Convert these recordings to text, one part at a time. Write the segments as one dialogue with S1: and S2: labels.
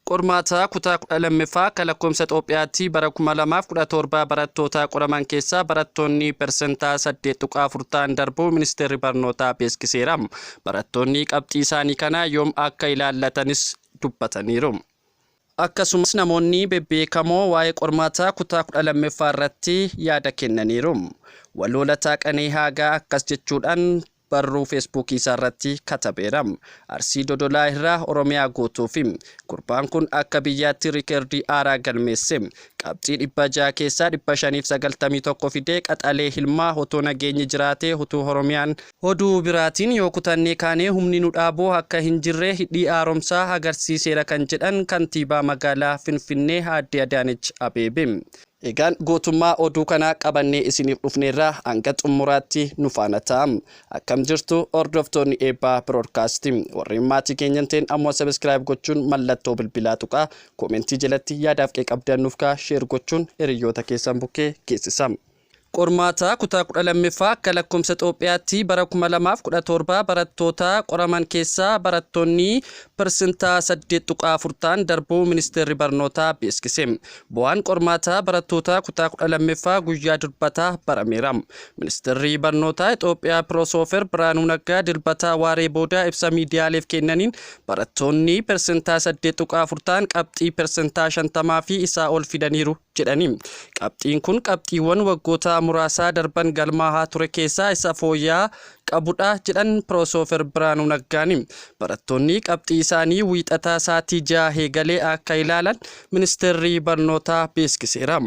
S1: Qormaata kutaa 12ffaa akka lakkoofsa Xoophiyaatti bara 2017 barattoota qoraman keessaa barattoonni persentaa 8.4 ta'an darbuu Ministeerri Barnootaa beeksiseera. Barattoonni qabxii isaanii kana yoom akka ilaallatanis dubbataniiru. Akkasumas namoonni bebbeekamoo waa'ee qormaata kutaa 12ffaa irratti yaada kennaniiru. Waloo Lataa Qanee Haagaa akkas jechuudhaan barruu Feesbuukii isaarratti katabeera. Arsii Dodolaa irraa Oromiyaa guutuufi. Gurbaan kun akka biyyaatti rikeerdii haaraa galmeesse. Qabxii 600 keessaa 591 fidee qaxalee ilmaa otoo nageenyi jiraatee utuu Oromiyaan. Oduu biraatiin yoo kutannee kaane humni nu dhaabu akka hin jirre Hidhi Haaromsaa agarsiiseera kan jedhan Kantiibaa Magaalaa Finfinnee Aadde Adaanech Abeebee. Egaan guutummaa oduu kanaa qabannee isiniif dhufneerra hanga xummuraatti nu faana ta'a. Akkam jirtu hordoftoonni Eebbaa Broadcast. Warreen maatii keenya hin ta'in ammoo subscribe gochuun mallattoo bilbilaa tuqaa. Koomentii jalatti yaadaaf qeeqabdan nuuf kaa share gochuun hiriyyoota keessan bukkee geessisa. Qormaata kutaa 12ffaa akka lakkoofsa Xoophiyaatti bara 2017 barattoota qoraman keessaa barattoonni persentaa 8.4 ta'an darbuu Ministeerri Barnootaa beeksise. Bu'aan qormaata barattoota kutaa 12ffaa guyyaa Dilbataa barameera. Ministeerri Barnootaa Xoophiyaa Piroosoofeer Biraanuu Naggaa Dilbataa waaree booda ibsa miidiyaaleef kennaniin barattoonni persentaa 8.4 ta'an qabxii persentaa 50 fi isaa ol fidaniiru jedhani. Qabxiin kun qabxiiwwan waggoota muraasaa darban galmaahaa ture keessaa isa fooyya'aa qabudha jedhan Pirosoofer Biraanuu Naggaani. Barattoonni qabxii isaanii Wiixataa saatii 6 eegalee akka ilaalan Ministeerri Barnootaa beeskiseera.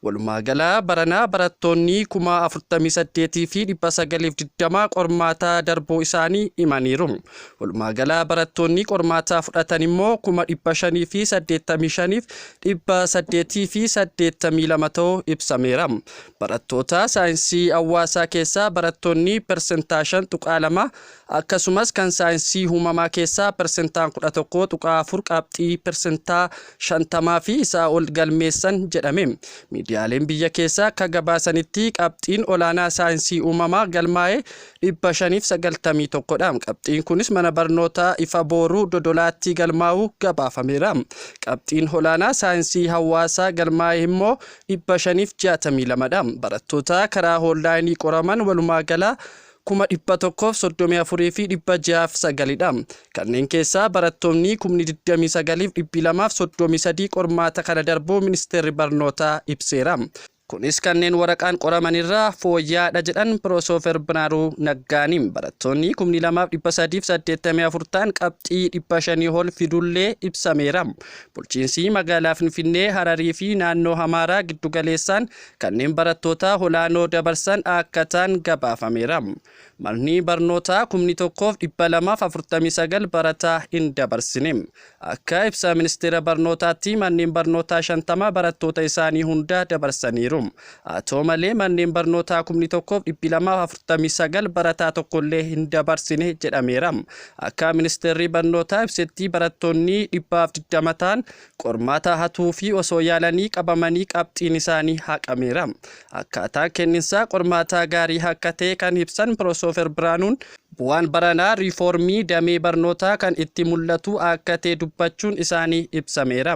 S1: Walumaagala baranaa barattoonni 48,920 qormaata darbuu isaanii himaniiru. Walumaagala barattoonni qormaataa fudhatan immoo 585f 882 ta'u ibsameera. Barattoota saayinsii hawaasaa keessaa barattoonni persentaa 5.2 akkasumas kan saayinsii uumamaa keessaa persentaan 11.4 qabxii persentaa 50 fi isaa ol galmeessan jedhame. Miidiyaaleen biyya keessaa akka gabaasanitti qabxiin olaanaa saayinsii uumamaa galmaa'e 591 dha. Qabxiin kunis mana barnootaa Ifa Booruu Dodolaattii galmaa'uu gabaafameera. Qabxiin olaanaa saayinsii hawaasaa galmaa'e immoo 562 dha. Barattoota karaa hoonlaayinii qoraman walumaa gala 134,609 dha. Kanneen keessaa barattoonni kumni 29 fi 233 qormaata kana darbuu Ministeerri Barnootaa ibseera. Kunis kanneen waraqaan qoraman irraa fooyya'aadha jedhan Piroosofer Biraanuu Naggaani. Barattoonni kumni 2 fi 384 ta'an qabxii 500 ol fidullee ibsameera. Bulchiinsi magaalaa Finfinnee, Hararii fi naannoo Hamaaraa giddugaleessaan kanneen barattoota olaanoo dabarsan akka ta'an gabaafameera. Manni barnootaa kumni 1 fi 249 barataa hin dabarsine. Akka ibsa Ministeera Barnootaatti manneen barnootaa 50 barattoota isaanii hunda dabarsaniiru. Haa ta'u malee manneen barnootaa kumni 1 fi 249 barataa tokkollee hin dabarsine jedhameera. Akka Ministeerri Barnootaa ibsetti barattoonni 120 ta'an Qormaata hatuufii osoo yaalanii qabamanii qabxiin isaanii haqameera. Akkaataan kenninsaa qormaataa gaarii akka ta'e kan ibsan Pirosoofer Biraanuun, bu'aan baranaa riifoormii damee barnootaa kan itti mul'atu akka ta'e dubbachuun isaanii ibsameera.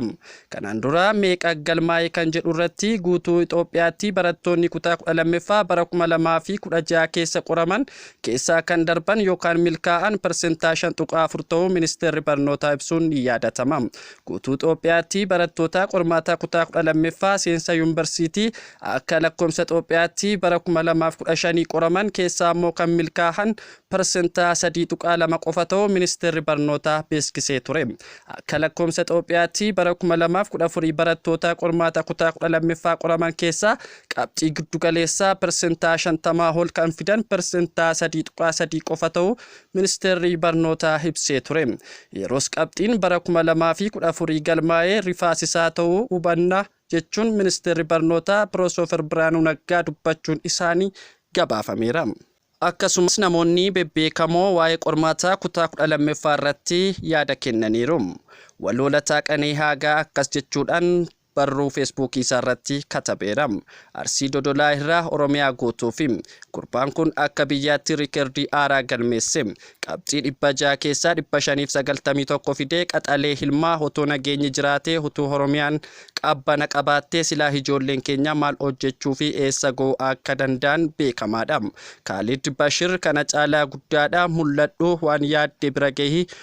S1: Kanaan dura meeqa galmaa'e kan jedhurratti guutuu Itoophiyaatti barattoonni kutaa 12ffaa bara 2016 keessa qoraman keessaa kan darban yookaan milkaa'an persentaa 5.4 ta'uu Ministeerri Barnootaa ibsuun ni yaadatama. guutuu Xoophiyaatti barattoota qormaataa kutaa 12ffaa seensa yuunbarsiitii akka lakkoofsa Xoophiyaatti bara 2015 qoraman keessaa ammoo kan milkaahan parsentaa 3.2 qofa ta'uu ministeerri barnootaa beeksisee ture. Akka lakkoofsa Xoophiyaatti bara 2014 barattoota qormaata kutaa 12ffaa qoraman keessaa qabxii giddugaleessaa parsentaa 50 ol kan fidan parsentaa 3.3 qofa ta'uu ministeerri barnootaa ibsee ture. Yeroos qabxiin bara 2014 galmaa'ee rifaasisaa ta'uu hubanna jechuun ministeerri barnootaa Piroosoofar Biraanuu Naggaa dubbachuun isaanii gabaafameera. Akkasumas namoonni bebbeekamoo waa'ee qormaataa kutaa 12ffaa irratti yaada kennaniiru. Waloo Lataa Qanee Haagaa akkas jechuudhaan barruu Feesbuukii isaarratti katabeera. Arsii Dodolaa irraa Oromiyaa guutuufi. Gurbaan kun akka biyyaatti rikerdii haaraa galmeesse. Qabxii 600 keessaa 591 fidee qaxalee ilmaa otoo nageenyi jiraatee utuu Oromiyaan qabbana qabaattee silaa hijoolleen keenya maal hojjechuufi eessa ga'uu akka danda'an beekamaadha. Kaalid Bashir kana caalaa guddaadha mul'adhu waan yaadde bira gahi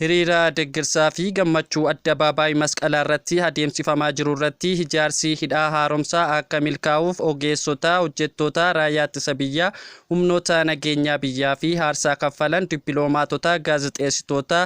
S1: Hiriira deggersaa fi gammachuu Addabaabaayii Masqalaa irratti adeemsifamaa jiru irratti hijaarsi Hidhaa Haaromsaa akka milkaa'uuf ogeessota, hojjettoota Raayyaa Ittisa Biyyaa, humnoota nageenyaa biyyaa fi haarsaa kaffalan, dippiloomaatota, gaazexeessitoota,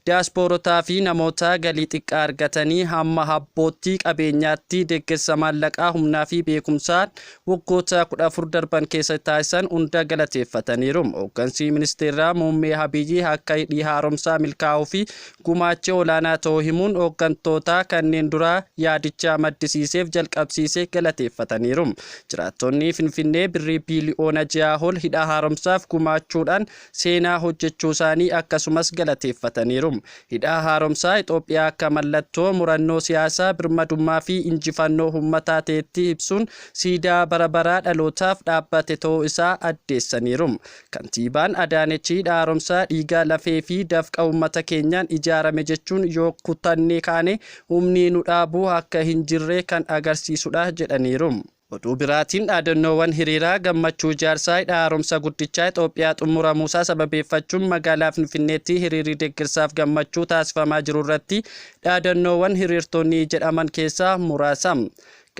S1: diyaaspoorotaa fi namoota galii xiqqaa argatanii hamma habbootti, qabeenyaatti, deggersa maallaqaa, humnaa fi beekumsaan waggoota 14 darban keessatti taasisan hunda galateeffataniiru. Hooggansi ministeeraa muummee Abiyyi akka hidhii haaromsaa milkaa'uu fi gumaachi olaanaa ta'uu himuun hooggantoota kanneen duraa yaadicha maddisiiseef jalqabsiise galateeffataniiru. Jiraattonni Finfinnee birrii biiliyoona 6 ol hidha haaromsaaf gumaachuudhaan seenaa hojjechuusaanii akkasumas galateeffataniiru. Hidhaa Haaromsaa Ixoophiyaa akka mallattoo murannoo siyaasaa, birmadummaa fi injifannoo hummataa ta'etti ibsuun siidaa bara baraa dhalootaaf dhaabbate ta'uu isaa addeessaniiru. Kantiibaan Adaanech Hidha Haaromsaa dhiiga, lafee fi dafqa ummata keenyaan ijaarame jechuun yoo kutannee kaane humni nu dhaabu akka hin jirre kan agarsiisudha jedhaniiru. Oduu biraatiin dhaadannoowwan hiriiraa gammachuu ijaarsa hidha haaromsa guddichaa Itoophiyaa xummuramuusaa sababeeffachuun magaalaa Finfinneetti hiriirri deeggarsaaf gammachuu taasifamaa jiru irratti dhaadannoowwan hiriirtonni jedhaman keessaa muraasa.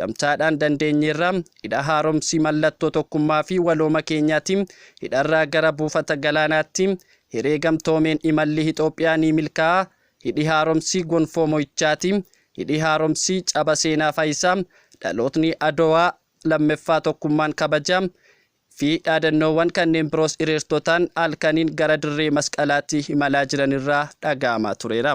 S1: Gamtaadhaan dandeenyeerra, hidha haaromsi mallattoo tokkummaa fi walooma keenyaati, hidharraa gara buufata galaanaatti, hiree gamtoomeen imalli Itoophiyaa ni milkaa'a, Hidhi Haaromsi gonfoo mo'ichaati. Hidhi Haaromsi caba seenaa faayisa. Dhalootni Adowaa lammeffaa tokkummaan kabaja. fi dhaadannoowwan kanneen biroos hiriirtotaan halkaniin gara dirree masqalaatti imalaa jiran irraa dhaga'amaa tureera.